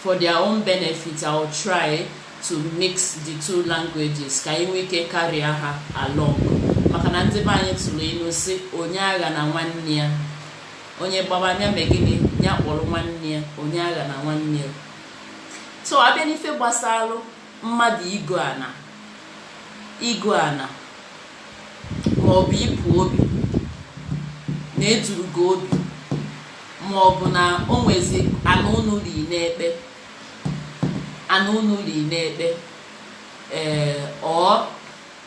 For their own benefit, I will try to mix the two languages ka anyị nwee ike carry ha along maka na ndị be anyị tụrụ ilu sị onye aghana nwanne ya onye gbaba ya mee gịnị ya kpọrọ nwanne ya onye aghana nwanne ya so abịa n'ife gbasara mmadụ igo ana igo ana ma ọ bụ ịpụ obi na eduru gị obi ma ọ bụ na o nwezi ana unu ri n'ekpe ana unu ri n'ekpe ee or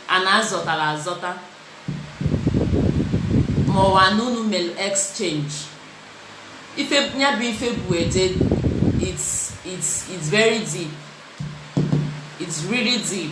ana azọtara azọta ma ọ bụ ana unu mere exchange ife ya bụ ife bụ ede it's it's it's very deep it's really deep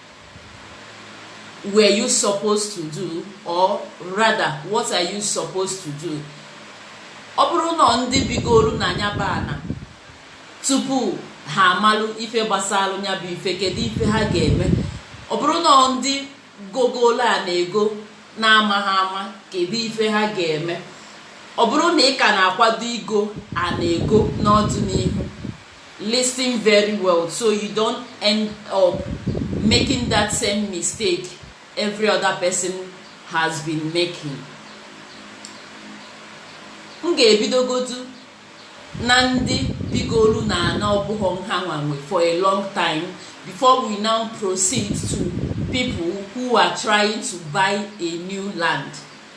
were you supposed to do or rather what are you supposed to do ọ bụrụ na ndị bigoro na nya bụ ana tupu ha amalụ ife gbasara ya bụ ife kedu ife ha ga-eme ọ bụrụ na ndị gogolo ana ego n'amaha ama kedu ife ha ga-eme ọ bụrụ na ị ka na-akwado igo ana ego n'ọdịnihu listen very well so you don't end up making that same mistake every other person has been making m ga-ebidogodu na ndị bigolu na ana ọbụghọ nha nwanwe for a long time before we now proceed to people who are trying to buy a new land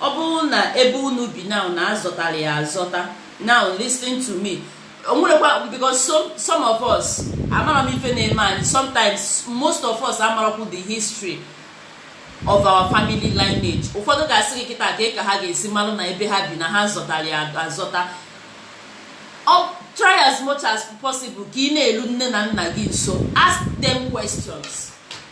Ọ bụrụ na ebe unu bi now na azọtara ya azọta now listen to me o nwerekwa because some, some of us amara m ife na-eme anyị sometimes most of us amarakwu the history of our family lineage ụfọdụ ga-asị gị kịta ka ka ha ga-esi malụ na ebe ha bi na ha zọtara ya azọta try as much as possible ka ị na-elu nne na nna gị nso ask them questions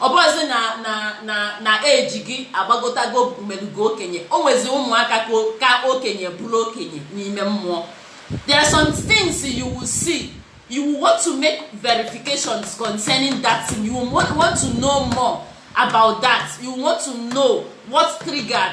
ọ bụrụzi na na na na age gị agbagotago melugo okenye o nwezi ụmụaka ka okenye bụrụ okenye n'ime mmụọ there are some things you will see you will want to make verifications concerning that thing you will want to know more about that you want to know what triggered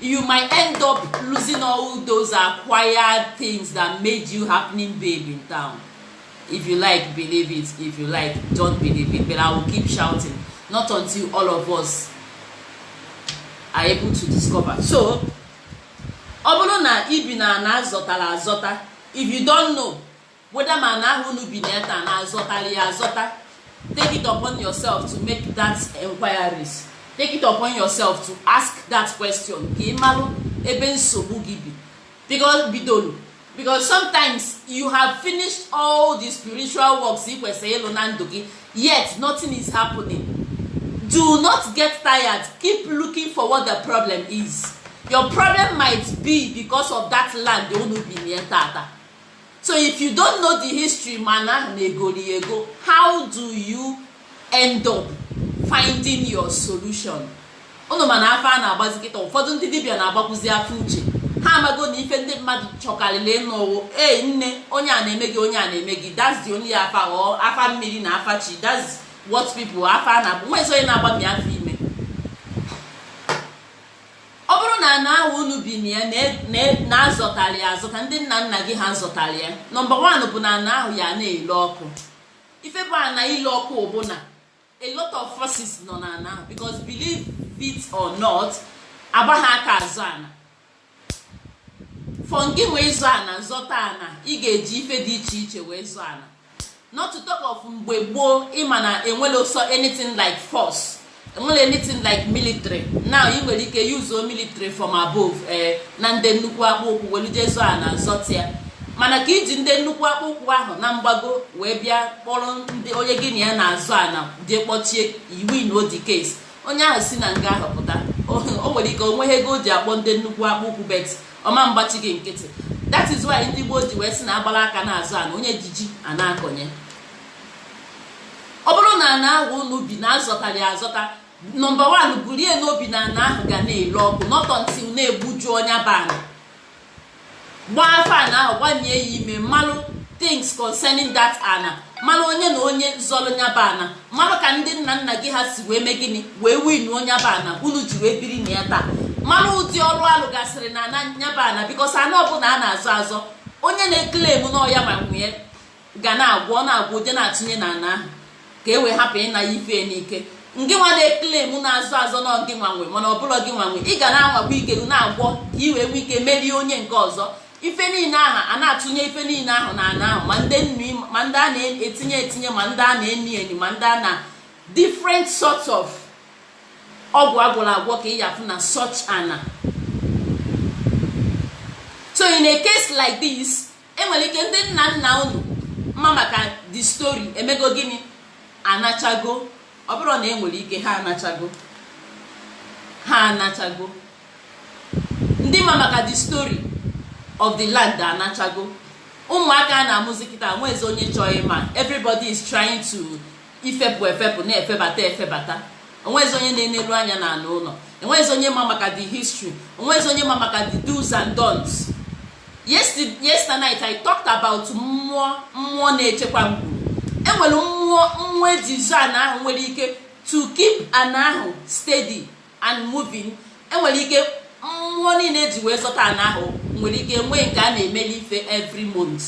you might end up losing all those acquired things that made you happening babe in town if you like believe it if you like don't believe it but i will keep shouting not until all of us are able to discover so ọ bụrụ na ibi na ana azọtara azọta if you don't know whether ma ana ahụ unu bi na ya taa na azọtara ya azọta take it upon yourself to make that enquiries take it upon yourself to ask that question ka ị malụ ebe nsogbu gị bi because bidolu because sometimes you have finished all the spiritual works ị kwesịrị ịlụ na ndụ gị yet nothing is happening do not get tired keep looking for what the problem is your problem might be because of that land unu bi na ya tata so if you don't know the history ma ana ahụ na egoro ya ego how do you end up finding your solution ụnụ ma na afa a na-agbazi kịta ụfọdụ ndị dibịa na-agbakwụzi afa uche ha amago na ife ndị mmadụ chọkarịrị ịnụ wụ ee nne onye a na-eme gị onye a na-eme gị that's the only afa ọ afa mmiri na afa chi that's what people afa na-abụ nweezi onye na-agbami afa ọ bụrụ na ana ahụ unu bi na ya na azọtara ya azọta ndị nna nna gị ha zọtara ya number one bụ na ana ahụ ya na-ele ọkụ ife bụ ana ile ọkụ bụ na a lot of forces nọ na ana ahụ because believe it or not agbaghị aka azọ ana for gị wee zọọ ana zọta ana ị ga-eji ife dị iche iche wee zọọ ana not to talk of mgbe gboo ịma na enwerọ ụsọ anything like force enwerọ anything like military now ị nwere ike yuzuo military from above na ndị nnukwu akpụ ụkwụ welu jee zọọ ana zọta ya mana ka iji ndị nnukwu akpụ ụkwụ ahụ na mgbago wee bịa kpọrọ ndị onye gị na ya na-azọ ana jee kpọchie ị winrọ the case onye ahụ si na nga ahụ pụta o nwere ike onweghị ego o ji akpọ ndị nnukwu akpụ ụkwụ but ọ ma agbachi gị nkịtị that is why ndị gboo ji wee sị na agbara aka na-azọ ana onye ji ji ana-akọnye ọ bụrụ na ana ahụ unu bi na azọtara ya azọta number one burie n'obi na ana ahụ ga na-ele ọkụ not until na egbujuo nya bụ ana gbaa afa ana ahụ gbanye ya ime malụ things concerning that ana mara onye na onye zọrọ nya bụ ana mara ka ndị nna nna gị ha si wee mee gịnị wee win nya bụ ana unu ji wee biri na ya taa mara ụdị ọrụ alụgasịrị na ana nya bụ ana because ana ọbụla a na-azọ azọ onye na-eklem na ọ ya nwa nwe ya ga na-agwọ ọ na-agwọ jee na-atụnye na ana ahụ ka e wee hapụ ịna ya ife n'ike ngị nwa na-eklem na-azọ azọ na ọ gị nwa nwe mana ọ bụrọ gị nwa nwe ị ga na-anwakwa ike na-agwọ ka i wee nwee ike merie onye nke ọzọ ife niile ahụ a na-atụnye ife niile ahụ na ana ahụ ma ndị nri ma ndị a na-etinye etinye ma ndị a na-eni eni ma ndị a na different sorts of ọgwụ agwọrọ agwọ ka ị ya afụ na such ana so in a case like this enwere ike ndị nna nna unu ma maka the story emego gịnị anachago ọ bụrụ na enwere ike ha anachago ha anachago ndị ma maka the story of the land anachago ụmụaka a na-amụzi kịta enwezi onye chọrọ ịma everybody is trying to ifepụ efepụ na-efebata efebata onwezi onye na-enelu anya na ana ụlọ enwezi onye ma maka the history onwezi onye ma maka the do's and don'ts yesterday night i talked about mmụọ mmụọ na-echekwa ngwuru enwere mmụọ mmụọ eji zọọ ana ahụ nwere ike to keep ana ahụ steady and moving enwere ike mmụọ niile eji wee zọta ana ahụ nwere ike nwee nke a na-emeli ife every month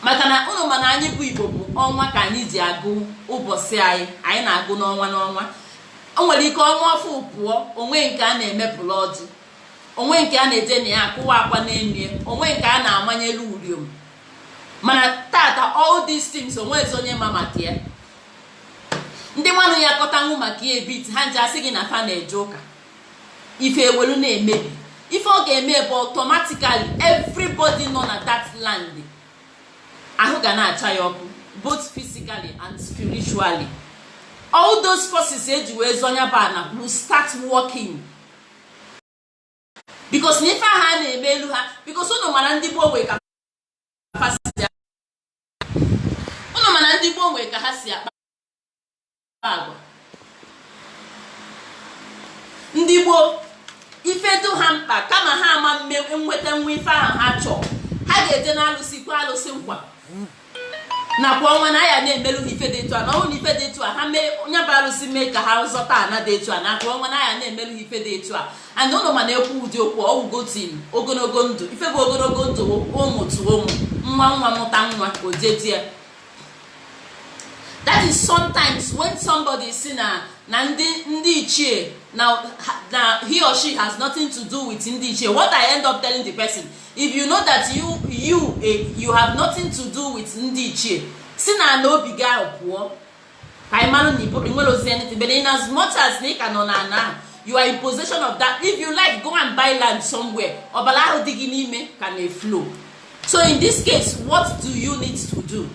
maka na unu ma na anyị bụ igbo bụ ọnwa ka anyị ji agụ ụbọchị anyị anyị na-agụ n'ọnwa n'ọnwa o nwere ike ọnwa ọfụụ pụọ onwe nke a na-emepụrụ ọjị onwe nke a na-eje na ya akụwa akwa n'elu onwe nke a na-amanyelu uriom mana tata all these things onwezi onye ma maka ya ndị nwanụ ya kọtanwụ maka ya ebit ha nje asị gị na fa na-eje ụka ife ewelu na-emebi ife ọ ga-eme bụ automatically everybody nọ na that land ahụ ga na-acha ya ọkụ both physically and spiritually all those forces eji wee zọ nya bụ ana will start working because na ife ahụ a na-emelu ha because ụnụ mara ndị gboo nwee ka ụnụ mara ndị gboo nwee ka ha si akpa agwa ndị gboo ife dụ ha mkpa kama ha ama mme nwetanwu ife ahụ ha chọọ ha ga-eje n'alụsị kwe alụsị nkwa na kwa ọnwa na a ya na-emerụ ha ife dị etu a na ọ wụ na ife dị etu a ha mee nya bụ arụsị mee ka ha zọta ana dị etu a na kwa ọnwa na a ya na-emerụ ha ife dị etu a and ụnụ ma na ekwu ụdị okwu ọwụgo tim ogologo ndụ ife bụ ogologo ndụ ụmụ tụọ ụmụ nwa nwa mụta nwa ojeji ya that is sometimes when somebody sị na na ndị ndị ichie na he or she has nothing to do with ndị ichie what i end up telling the person if you know that you you eh, you have nothing to do with ndị ichie si na ana obi gị ahụ pụọ ka ị mara na i nwerozi anything but in as much as na ị ka nọ na ana ahụ you are in possession of that if you like go and buy land somewhere ọbara ahụ dị gị n'ime ka na-eflow so in this case what do you need to do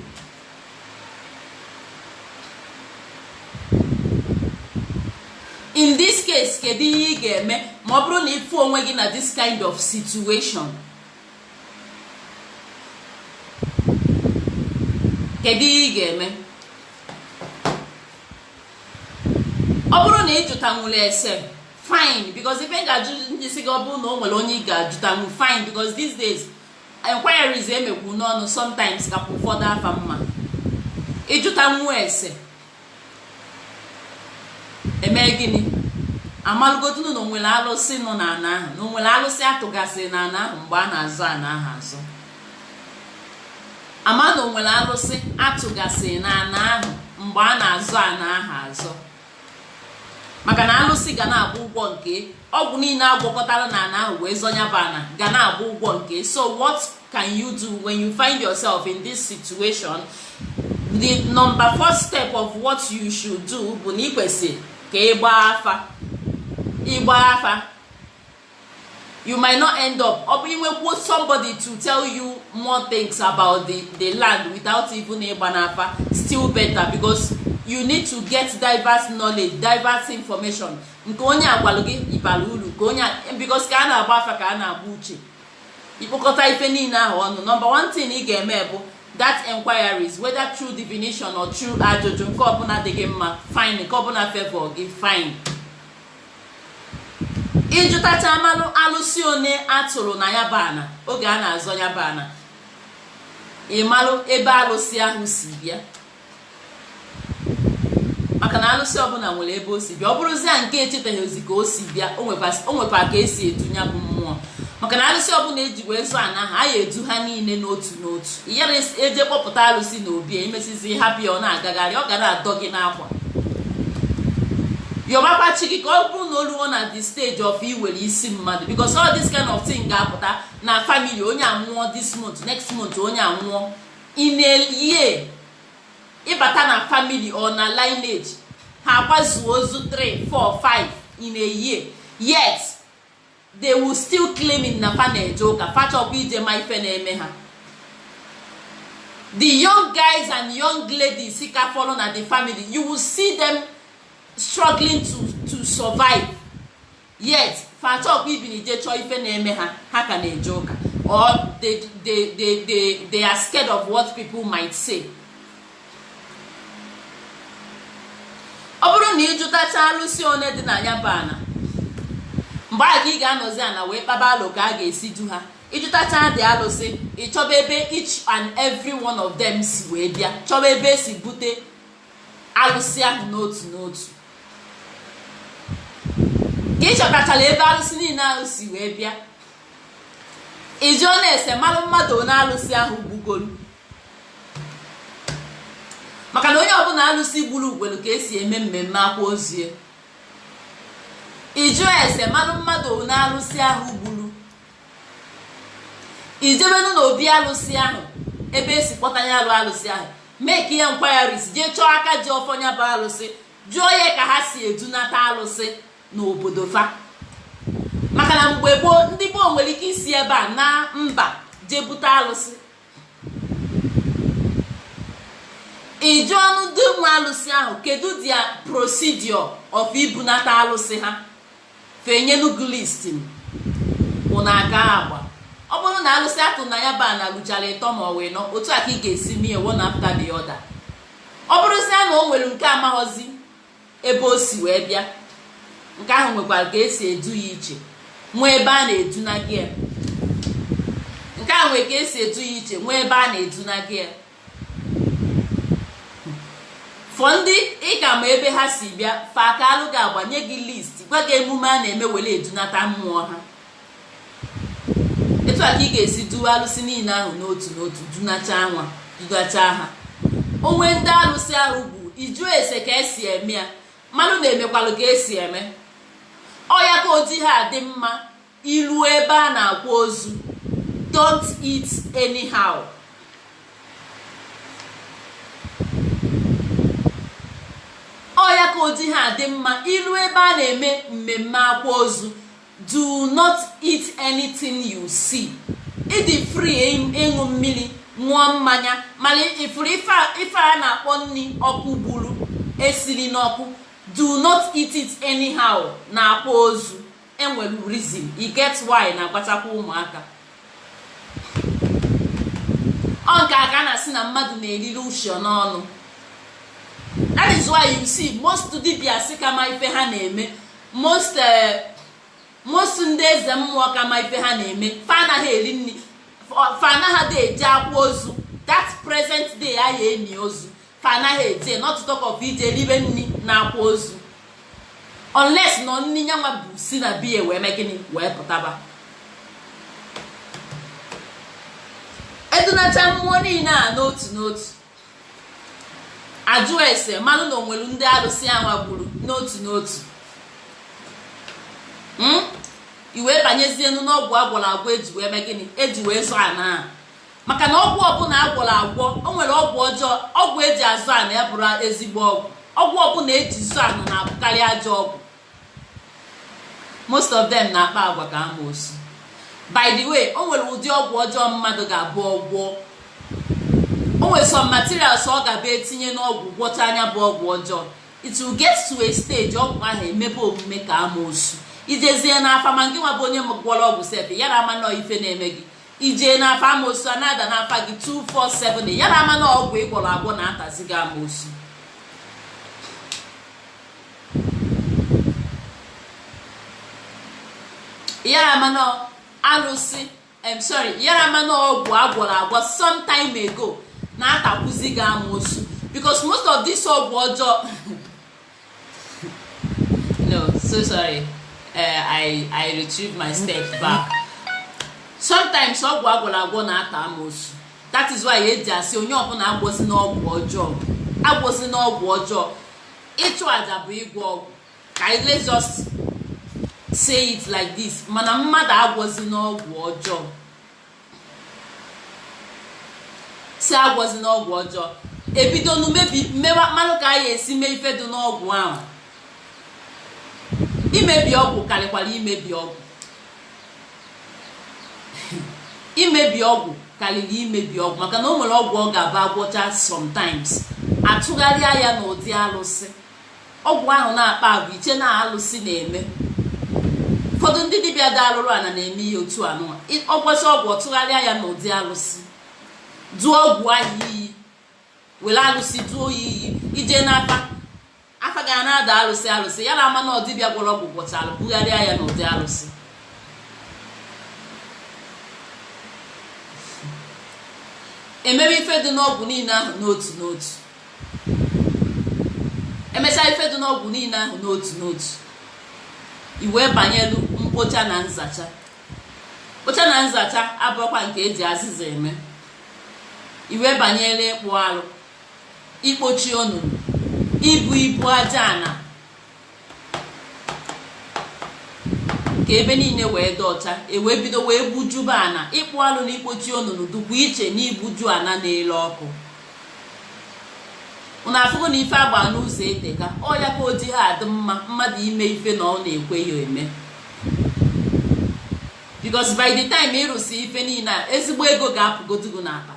in this case kedu ihe ị ga-eme ma ọ bụrụ na ị fụ onwe gị na this kind of situation kedu ihe ị ga-eme ọ bụrụ na ị jụtanwụla ese fine because ife ga-ajụ ndị si gị ọ bụrụ na o nwere onye ị ga-ajụtanwu fine because these days enquiries emekwu n'ọnụ sometimes ka ụfọdụ afa mma ị jụtanwu ese eme gịnị amalụgodunu na o nwere alụsị nọ na ana ahụ na o nwere alụsị atụgasịrị na ana ahụ mgbe a na-azụ ana ahụ azụ ama na o nwere alụsị atụgasịrị na ana ahụ mgbe a na-azụ ana ahụ azụ maka na alụsị ga na-agba ụgwọ nke ọgwụ niile agwọkọtara na ana ahụ wee zọ nya bụ ana ga na-agba ụgwọ nke so what can you do when you find yourself in this situation the number first step of what you should do bụ na i kwesị ka ị gbaa afa ịgba afa you might not end up ọ bụ inwekwuo somebody to tell you more things about the, the land without even ịgba n'afa still better because you need to get diverse knowledge diverse information nke onye a gwalụ gị ịbara uru ka onye because ka a na-agba afa ka a na-agba uche ị kpọkọta ife niile ahụ ọnụ number one thing ị ga-eme bụ that enquiries whether through divination or through ajụjụ nke ọbụla dị gị mma fine nke ọbụla favor gị fine ị jụtacha malụ alụsị one a tụrụ na ya bụ ana oge a na-azọ ya bụ ana ị malụ ebe alụsị ahụ si bịa maka na alụsị ọbụla nwere ebe o si bịa ọ bụrụzia nke echetaghịzi ka o si bịa o nwekwa ka esi edu ya bụ mmụọ maka na alụsị ọbụla eji wee zọ ana ahụ a ya-edu ha niile n'otu n'otu ị yara eje kpọpụta alụsị na obi emesizi hapụ ya ọ na-agagharị ọ ga na-adọ gị n'akwa yọbakwa chi gị ka ọ bụrụ na o luo na the stage of iwere isi mmadụ because all this kind of thing ga-apụta na family onye anwụọ this month next month onye anwụọ in a year ị bata na family or na lineage ha akwazuo ozu 3 4 5 in a year yet they will still claiming na fa na-eje ụka fa achọghọ ije ma ife na-eme ha the young guys and young ladies ka fọlọ na the family you will see them struggling to to survive yet fa achọghọ even ije chọọ ife na-eme ha ha ka na-eje ụka or they, they, they, they, they are scared of what people might say ọ bụrụ na ị jụtacha alụsị one dị na ya bụ ana mgbe a ka ị ga-anọzi ana wee kpaba alo ka a ga-esi du ha ị jụtacha the alụsị ị chọba ebe each and every one of them si wee bịa chọba ebe esi bute alụsị ahụ n'otu n'otu ka ị chọtachara ebe alụsị niile ahụ si wee bịa ị jụọnụ ese malụ mmadụ one alụsị ahụ gbugoro maka na onye ọbụla alụsị gburu nwelụ ka esi eme mmemme akwa ozu ya ị jụọ ese malụ mmadụ one alụsị ahụ gburu ị jebenụ na obi alụsị ahụ ebe esi kpọta ya alụ alụsị ahụ make enquiries jee chọọ aka ji ọfọ ya bụ alụsị jụọ ya ka ha si edunata alụsị n'obodo fa maka na mgbe gboo ndị gboo nwere ike isi ebe a na mba jee bute alụsị ị jụọnụ ndị nwe alụsị ahụ kedu the procedure of ibunata alụsị ha fa enyenụ gị list ụnụ aga agba ọ bụrụ na alụsị a tụ na ya bụ ana luchara ịtọ ma ọ bụ ịnọ otu a ka ị ga-esi mee ya one after the other ọ bụrụzie na o nwere nke amaghọzi ebe o si wee bịa nke ahụ nwekwara ka esi edu ya iche nwee ebe a na-edunaga ya nke ahụ nwere ka esi edu ya iche nwee ebe a na-edunaga ya for ndị ị ka ma ebe ha si bịa fa akaalụ gị agba nye gị list gwa gị emume a na-eme were edunata mmụọ ha etu a ka ị ga-esi duwe alụsị niile ahụ n'otu n'otu dunacha nwa dunacha ha o nwee ndị alụsị ahụ bụ ịjụ ese ka esi eme ya mmadụ na-emekwalụ ka esi eme ọ ya ka o ji ha adị mma ilu ebe a na-akwa ozu don't eat anyhow ọ ya ka o ji ha adị mma ilu ebe a na-eme mmemme akwa ozu do not eat anything you see ị dị free ịṅụ mmiri ṅụọ mmanya mana ị fụrụ ife a na-akpọ nri ọkụ gburu esiri n'ọkụ do not eat it anyhow n'akwa ozu enwere reason e get why na-agwatakwa ụmụaka ọ nke a ka a na-asị na mmadụ na-eriri uchu n'ọnụ that is why you see most dibias ka ma ife ha na-eme most eh, most ndị eze mmụọ ka ma ife ha na-eme fa anaghị eri nri fa anaghị dị eje akwa ozu that present day a ya-eni ozu fa anaghị eje not talk of ije ribe nri n'akwa ozu unless na nri nyanwa bụ si na be ya wee mee gịnị wee pụtaba edunacha mmụọ niile a n'otu n'otu ajụọ ese malụ na o nwelu ndị alụsị anwa gburu n'otu n'otu hmm? i wee banyezienu n'ọgwụ agwọrọ agwọ eji wee mee gịnị eji wee zọ ana a maka na ọgwụ ọbụla agwọrọ agwọ o nwere ọgwụ ọjọọ ọgwụ eji azọ ana ya bụrụ ezigbo ọgwụ ọgwụ ọbụla eji zọ ana na-abụkarị ajọ ọgwụ most of them na-akpa agwa ka amoosu by the way o nwere ụdị ọgwụ ọjọọ mmadụ ga-abụ ọ gwọọ o nwere some materials ọ ga-abụ etinye n'ọgwụ gwọchaa nya bụ ọgwụ ọjọọ it will get to a stage ọgwụ ahụ emebe omume ka amoosu i jezie n'afa ma ngị nwa bụ onye gwọrọ ọgwụ sef yara ama nọ ife na-eme gị i jee n'afa amoosu ana-ada n'afa gị 247 yara ama na ọgwụ ị gwọrọ agwọ na-atazi gị amoosu yara ama na alụsị em sorry yara ama na ọgwụ agwọrọ agwọ some time ago na-atakwuzi gị amoosu because most of this ọgwụ ọjọọ no so sorry uh, I, I retrieve my step back sometimes ọgwụ agwọrọ agwọ na-ata amoosu that is why eji asị onye ọbụla agwọzina ọgwụ ọjọọ agwọzina ọgwụ ọjọọ ịchụ aja bụ ịgwọ ọgwụ ka anyị let's just say it like this mana mmadụ agwọzina ọgwụ ọjọọ sị agwọzina ọgwụ ọjọọ ebidonu mebi mmewa ịmanụ ka anyị esi mee ife dị n'ọgwụ ahụ imebi ọgwụ karịkwara imebi ọgwụ imebi ọgwụ karịrị imebi ọgwụ maka na o nwere ọgwụ ọ ga-abụ agwọcha sometimes atụgharịa ya n'ụdị alụsị ọgwụ ahụ na-akpa agwa i chee na alụsị na-eme ụfọdụ ndị dibịa dị alụrụ ana na-eme ihe otu anụwa ọ gwọcha ọgwụ ọ tụgharịa ya n'ụdị alụsị duo ọgwụ ahụ iyi were alụsị duo ya iyi i je n'afa afa ga na-ada alụsị alụsị ya na ama na ọ dibịa gwọrọ ọgwụ gwọchara bugharịa ya n'ụdị alụsị emebe ife dị n'ọgwụ niile ahụ n'otu n'otu emechaa ife dị n'ọgwụ niile ahụ n'otu n'otu iwee banyelu mkpocha na nzacha mkpocha na nzacha abụrụkwa nke eji azịza eme iwee banyelu ịkpụ alụ ikpochi onunu ibu ibu aja ana ka ebe niile wee dị ọcha ewee bido wee gbujuba ana ịkpụ alụ na ikpochi onunu dụkwa iche na igbuju ana na-ele ọkụ unu afụgo na ife agba n'ụzọ eteka ọ ya ka o jighị adị mma mmadụ ime ife na ọ na-ekwe ya eme because by the time ị rụsị ife niile a ezigbo ego ga-apụgodugo n'akpa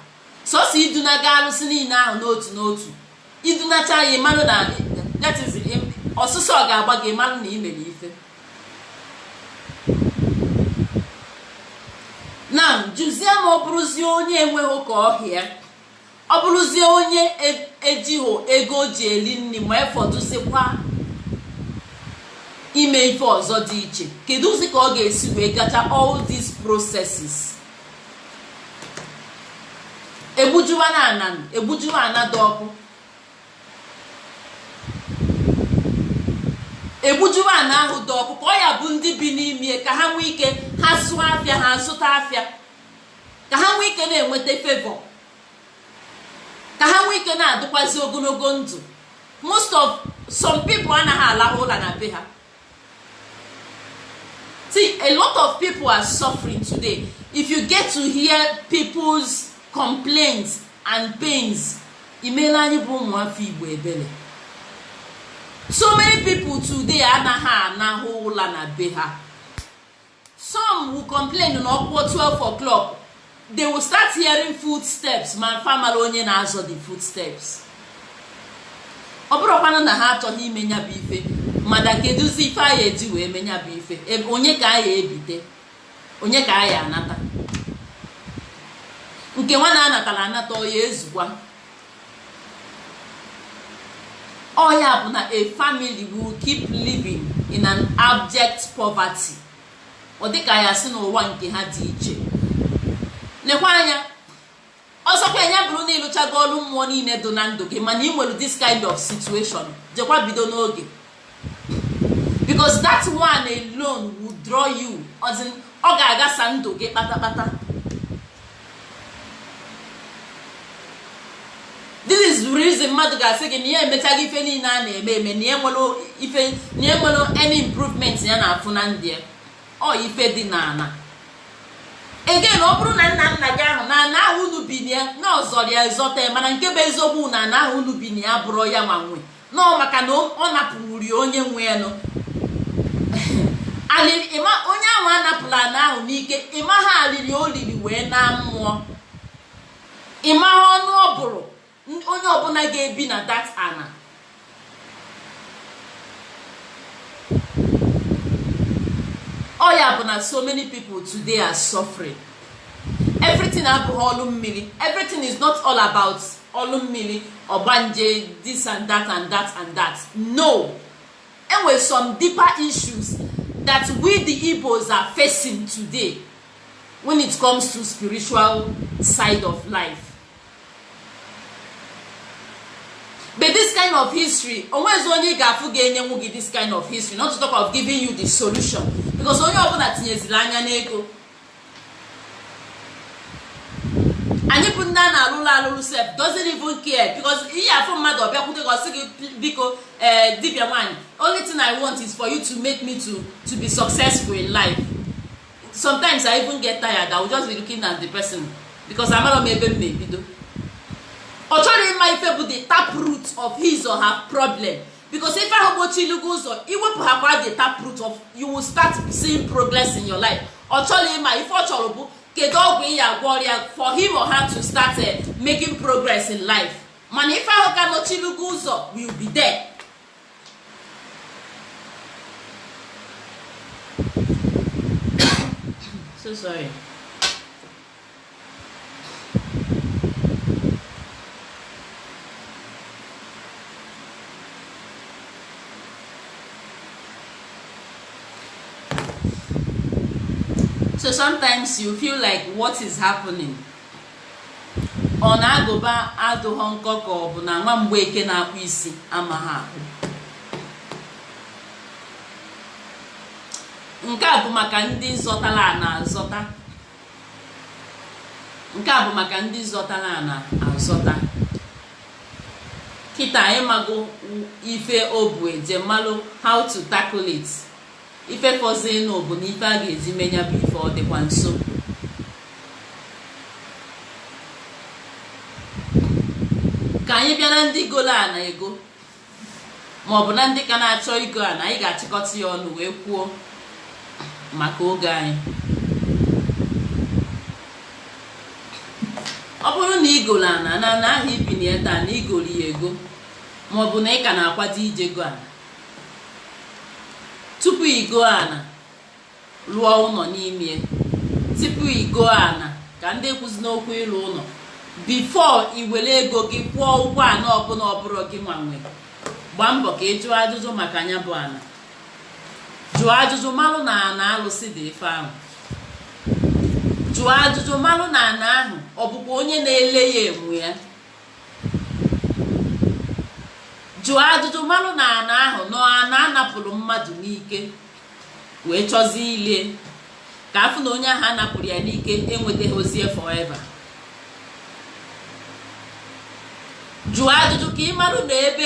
sọsọ idunaga alụsị niile ahụ n'otu n'otu idunacha ya ịmalụ na that is im- ọsụsọ ọ ga-agba gị ịmalụ na i mere ife na jụzie ma ọ bụrụzie onye enweghị ka ọ ha ya ọ bụrụzie onye e- ejighị ego o ji eri nri ma efọdụzikwa ime ife ọzọ dị iche keduzi ka ọ ga-esi wee gacha all these processes egbujuwa na ana egbujuwa ana dị ọkụ egbujuwa ana ahụ dị ọkụ ka ọ ya-abụ ndị bi n'ime ka ha nwee ike ha zụọ afịa ha zụta afịa ka ha nwee ike na-enweta favor ka ha nwee ike na-adịkwazi ogologo ndụ most of some people anaghị alahụ ụla na be ha see a lot of people are suffering today if you get to hear people's complaints and pains i melu anyị bụ ụmụafọ igbo ebere so many people today anaghị alahụ ụla na be ha some will complain na ọ kụọ 12 o'clock they will start hearing footsteps ma fa amara onye na-azọ the footsteps ọ bụrụkwanụ na ha achọọ ime nya bụ ife mada kedụzi ife a ya eji wee mee nya bụ ife onye ka a ya ebite onye ka a ya anata nke nwa na-anatara anata ọ ya ezukwa ọ ya bụ na a family will keep living in an abject poverty ọ dịka a ya asị na ụwa nke ha dị iche nekwa anya ọ sọkwa nya bụrụ na ịlụchago ọlụ mmụọ niile dị na ndụ gị mana ị nwere this kind of situation jekwa bido n'oge because that one alone will draw you ọ ga-agasa ndụ gị kpatakpata this is the reason mmadụ ga-asị gị na ya emechago ife niile a na-eme eme na ya enwerọ any improvement ya na-afụ na ndụ ọ ife dị n'ana again ọ bụrụ na nna nna gị ahụ na ana ahụ unu bi na ya na ọ zọrọ ya zọta ya mana nke bụ eziokwu na ana ahụ unu bi na ya abụrọ ya nwa nwe nọọ maka na ọ napụwuri onye nwe ya nọ onye ahụ a napụlụ ana ahụ n'ike ị maha alili o liri wee naa mmụọ ị maha ọnụ ọ bụrụ onye ọbụla ga-ebi na that ana ọ ya bụ na so many people today are suffering everything abụghị ọlụ mmiri everything is not all about ọlụ mmiri ọgbanje this and that and that and that no enwere some deeper issues that we the Igbos are facing today when it comes to spiritual side of life but this kind of history onwezi onye ị ga-afụ ga-enyenwu gị this kind of history not to talk of giving you the solution because onye ọbụla tinyeziri anya n'ego anyị bụ ndị a na-alụlụ alụlụ sef doesn't even care because ị ya afụ mmadụ ọ bịakwute gị ọ sị gị biko ee eh, dibịa nwaanyị only thing i want is for you to make me to to be successful in life sometimes i even get tired i will just be looking at the person because amarọ m ebe m ya ebido ọ chọrọ ịma ife bụ the tap root of his or her problem because ife ahụ gbochiri gị ụzọ i wepụhakwa the tap root of you will start seeing progress in your life ọ chọrọ ịma ife ọ chọrọ bụ kedu ọgwụ ị ya agwọrọ ya for him or her to start eh, making progress in life mana ife ahụ ka gbochiri gị ụzọ will be there so sorry so sometimes you feel like what is happening ọ na agụba adụghọ nkọ ka ọ bụ na nwa Mgbeke na-akpụ isi amaha akpụ nke a bụ maka ndị zọtara ana azọta nke a bụ maka ndị zọtara ana azọta kịta anyị mago ife ọ bụ e jee malụ how to tackle it ife fọzinụ bụ na ife a ga-eji me nya bụ ife ọ dịkwa nso ka anyị bịara ndị golo ana ego ma ọ bụ na ndị ka na-achọ igo ana anyị ga-achịkọta ya ọnụ wee kwuo maka oge anyị ọ bụrụ na i golo ana na ana ahụ i bi na ya taa na i golo ya ego ma ọ bụ na ị ka na-akwado ije go ana tupu igo ana lụọ ụnọ n'ime tupu igo ana ka ndị ekwuzi n'okwu ịlụ ụnọ before i were ego gị kwụọ ụgwọ ana ọbụla ọ bụrụ gị nwa nwe gbaa mbọ ka ị jụọ ajụjụ maka nya bụ ana jụọ ajụjụ malụ na ana alụsị dị ife ahụ jụọ ajụjụ malụ na ana ahụ ọ bụkwa onye na-ele ya nwe ya jụọ ajụjụ malụ na ana ahụ na ọ ana a napụrụ mmadụ n'ike wee chọzie ile ka a fụ na onye ahụ a napụrụ ya n'ike enwetahọzi ya forever jụọ ajụjụ ka ị marụ na ebe